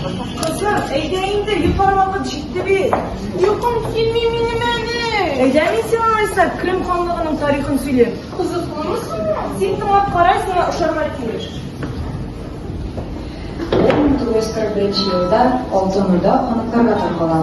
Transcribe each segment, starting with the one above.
Кызым, әйдә инде, йоклар вакыт җитте бит. Йокым килми минем әле. Әйдә мин сиңа алайса Крым ханлыгының тарихын сөйлим. Кызыклымы соң? Син тыңлап кара, сиңа ошарга тиеш. 1941 елда Алтын Урда ханыкларга таркала.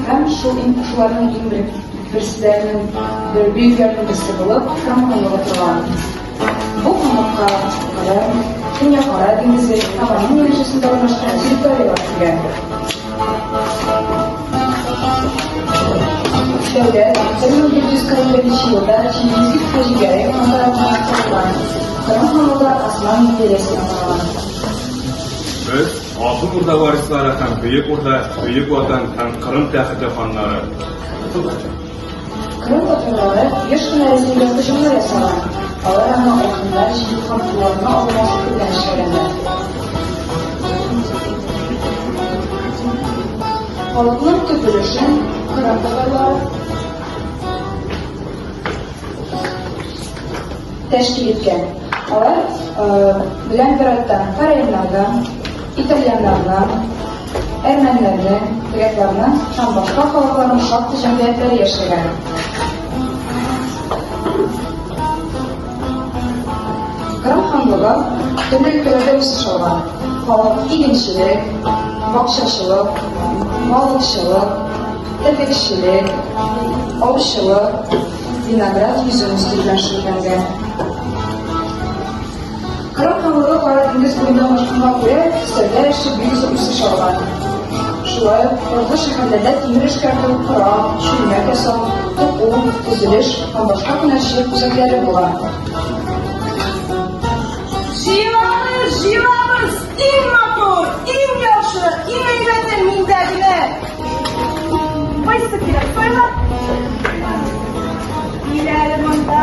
Һәм шул иң шуларның иң бер берсе бер бөекләрнең берсе булып Крым ханлыгы торган. Бу кунакка Кырым, Төньяк Кара диңгезе һәм аның янәшәсендә урнашкан территорияләр килә. Шәүлә, 1941 елда Чингизик Хаҗигәрәй хан тарафыннан корылган. Кырым ханлыгы Осман империясенә караган. Без Алтын Урда варислары һәм Бөек Урда, Бөек Ватан һәм Кырым тәхете ханнары. Кырым татарлары еш кына Рәсәйгә һөҗүмнәр ясаган, алар аңа айканнар җыю һәм кулларына алма сату белән эшләгәннәр. Халыкның төп өлешен кырым татарлары тәшкил иткән. Алар белән беррәттән караимнар да, Итальяннарның, әрмәннәрнең, грекларның һәм башка халыкларның шактый җәмгыятьләре яшәгән. Кырым ханлыгы төрле өлкәләрдә үсеш алган. Халык игенчелек, бакчачылык, балыкчылык, терлекчелек, аучылык, виноград йөзен үстерү белән шөгыльләнгән. Кырым халыгы Кара диңгез буенда урнашканга күрә, сәүдә эше бик зур үсеш алган. Шулай ук торгы шәһәрләрдә тимер эшкәртү, кора, чүлмәк ясау, туку, төзелеш һәм башка һөнәрчелек үзәкләре була. Җыелабыз, җыелабыз, иң матур, иң яхшы, иң әйбәте миндә генә. Кайсы кирәк, сайлап. Биләле монда.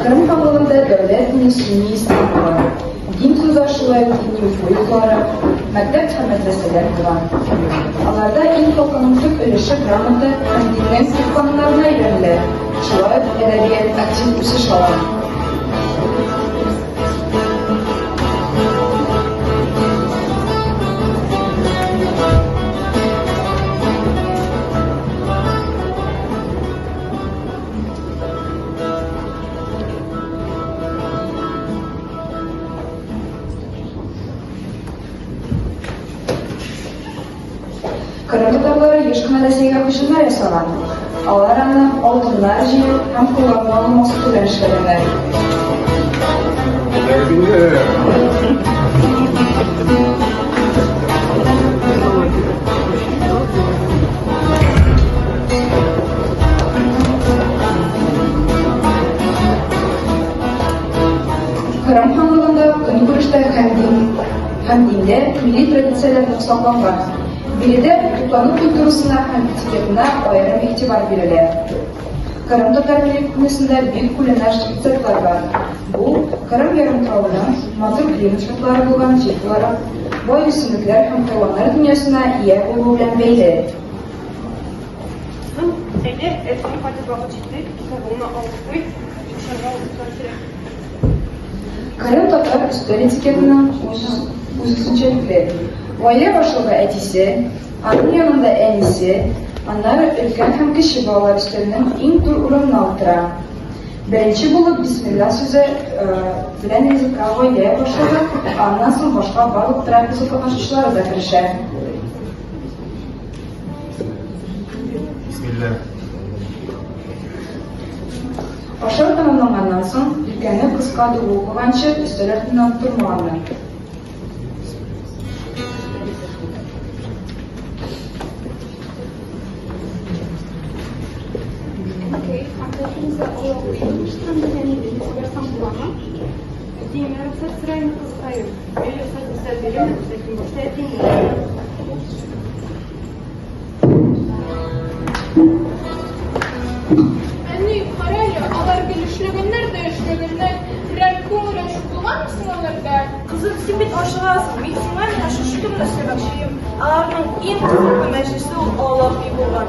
Кырым кабалында дәүләт дине сөнни ислам була. Дин сүзләр шулай ук дини уку йортлары, мәктәп һәм мәдрәсәләр була. Аларда ил халкының төп өлеше грамота һәм дингә сыйфатларына өйрәнелә. Шулай ук әдәбият актив үсеш ала. Кырым татарлары еш кына Рәсәйгә һөҗүмнәр ясаган. Алар аны алтыннар җыю һәм куллану алу максаты белән эшләгәннәр. Кырым ханлыгында көнкүрештә һәм дин һәм диндә милли традицияләрне сакланга, биредә туклану культурасына һәм этикетына аерым игътибар бирелә. Кырым татар милли бик күләмле штрихлар бар. Бу Кырым ярымтравының матур климат шартлары булган җир буларак, бай үсемлекләр һәм хайваннар дөньясына ия булуы белән бәйле. Кызым, әйдә, әтиең кайтып вакыт җитте, китабыңны алып куй, укырга утырырга кирәк. Кырым татар өстәл этикетының үзенчәлекле. Гаилә башлыгы әтисе, аның янында әнисе, аннары өлкән һәм кече балалар өстәленең иң түр урынына утыра. Беренче булып бисмилла сүзе белән ризыкка гаилә башлыгы, аннан соң башка барлык трапеза катнашучылары да керешә. Бисмилла. Ашау тәмамланганнан соң, иркәне кыска дубыл куганчы өстәл артыннан тормаганнар. Әтием, я рөхсәт сораймы, кызкаем? Мин рөхсәт дисә бирәм, ләкин башта әтием Әни, карале, алар гел эшләгәннәр дә эшләгәннәр. Берәр күңел ачу булганмы соң аларда? Кызым, син бит ашыгасың, мин сиңа менә шушы көнне сөйләшим. Аларның иң кызыклы мәҗлесе ул аллаһи булган.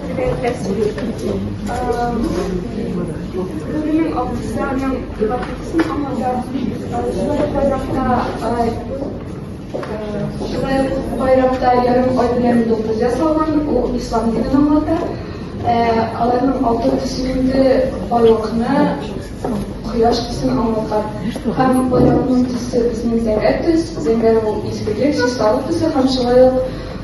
Байракта ярым ай белән дуңгыз ясалган, ул ислам динен аңлата. Аларның алтын төсендә байлыкны кояш төсен аңлата. Һәм байракның төсе безнең зәңгәр төс, зәңгәр ул изгелек, чисталык төсе һәм шулай ук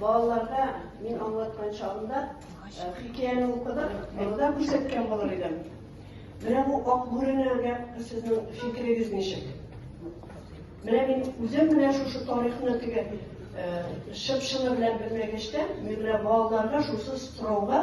Балаларга мин аңлаткан чагында хикәяне укыдык, монда күрсәткән булыр идем. Менә бу ак бүреләргә сезнең фикерегез ничек? Менә мин үзем менә шушы тарихны теге чып-чыны белән белмәгәчтә, мин менә балаларга шусы сорауга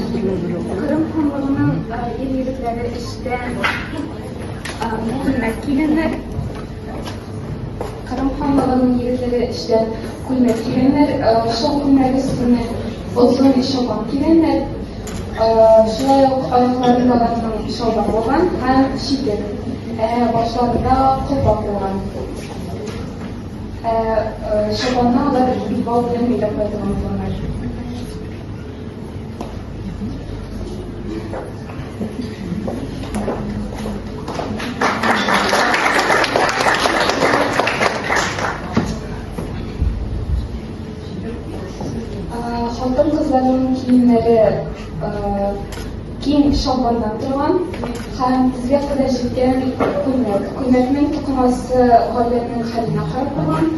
Кырым ханлыгының ир егетләре эштә күлмәк кигәннәр. Кырым ханлыгының егетләре эштә күлмәк кигәннәр. Шул күлмәк өстенә озын чапан кигәннәр. Шулай ук аякларында аларның чалбар булган һәм читек. Башларында колпак булган. Ә чапанны алар җил бал белән бәйләп кайтырмыйдылар. Хатын-кызларның киемнәре киң чалбардан торган һәм тезгә кадәр җиткән күлмәк. Күлмәкнең тукымасы гаиләнең хәленә карап торган,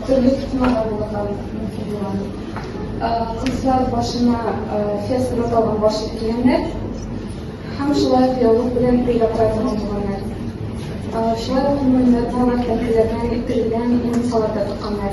төрле тукымалар булырга мөмкин булган. Кызлар башына феска салган баш кигәннәр һәм шулай ук яулык белән бәйләп кайтырга булганнар. Шулай ук муеннарына тәңкеләрдән ителгән муенсалар да тукканнар.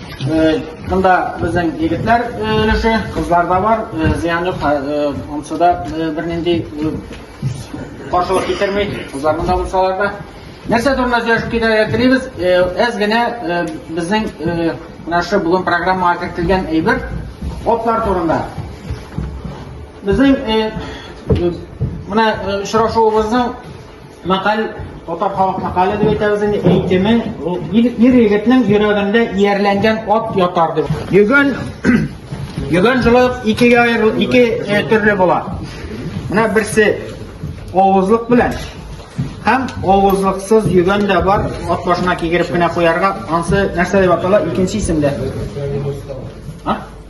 Монда безнең егетләр өлеше, кызлар да бар, зыян юк, ансы да бернинди каршылык китерми, кызларның да булсалар да. Нәрсә турында сөйләшеп китәргә телибез? Әз генә безнең менә шу бүген программага кертелгән әйбер отлар турында. Безнең менә очрашуыбызның Мәкаль татар халык мәкале дип әйтәбез инде, әйтеме, ул ир егетнең йөрәгендә иярләнгән ат ятар дип. Йөгән йөгән шулай ук икегә аерыл, ике э, төрле була. Менә берсе авызлык белән һәм авызлыксыз йөгән дә бар, ат башына кигереп кенә куярга, ансы нәрсә дип атала, икенче исемдә.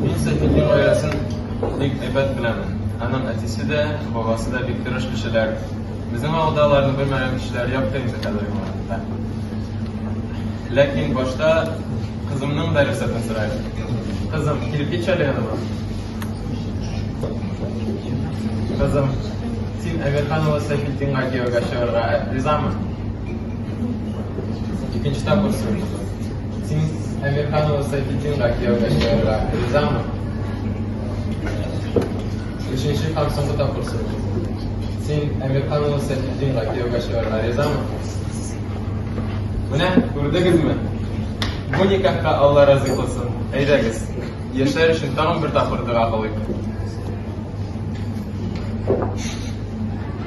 Мин Сәфине гаиләсен бик әйбәт беләмен. Аның әтисе дә, бабасы да бик тырыш кешеләр. Безнең авылда аларны белмәгән кешеләр якты инде хәзерге вакытта. Ләкин башта кызымның да рөхсәтен сорыйм. Кызым, килеп китче әле яныма. Кызым, син Әмирхан улы Сәфиттинга кияүгә чыгарга ризамы? Икенче тапкыр сорыйм. Син Әмирханова Сафитдинга кияүгә чыгарга ризамы? Өченче һәм соңгы тапкыр сорыйм. Син Әмирханова Сафитдинга кияүгә чыгарга ризамы? Менә күрдегезме? Бу никахка Алла разый булсын. Әйдәгез, яшәр өчен тагын бер тапкыр дога кылыйк.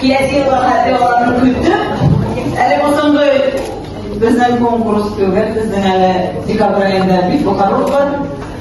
Киясе вакыты аларны көтеп, әле бу соңгы безнең конкурс түгел, безнең әле декабрь аенда бик бу карар бар.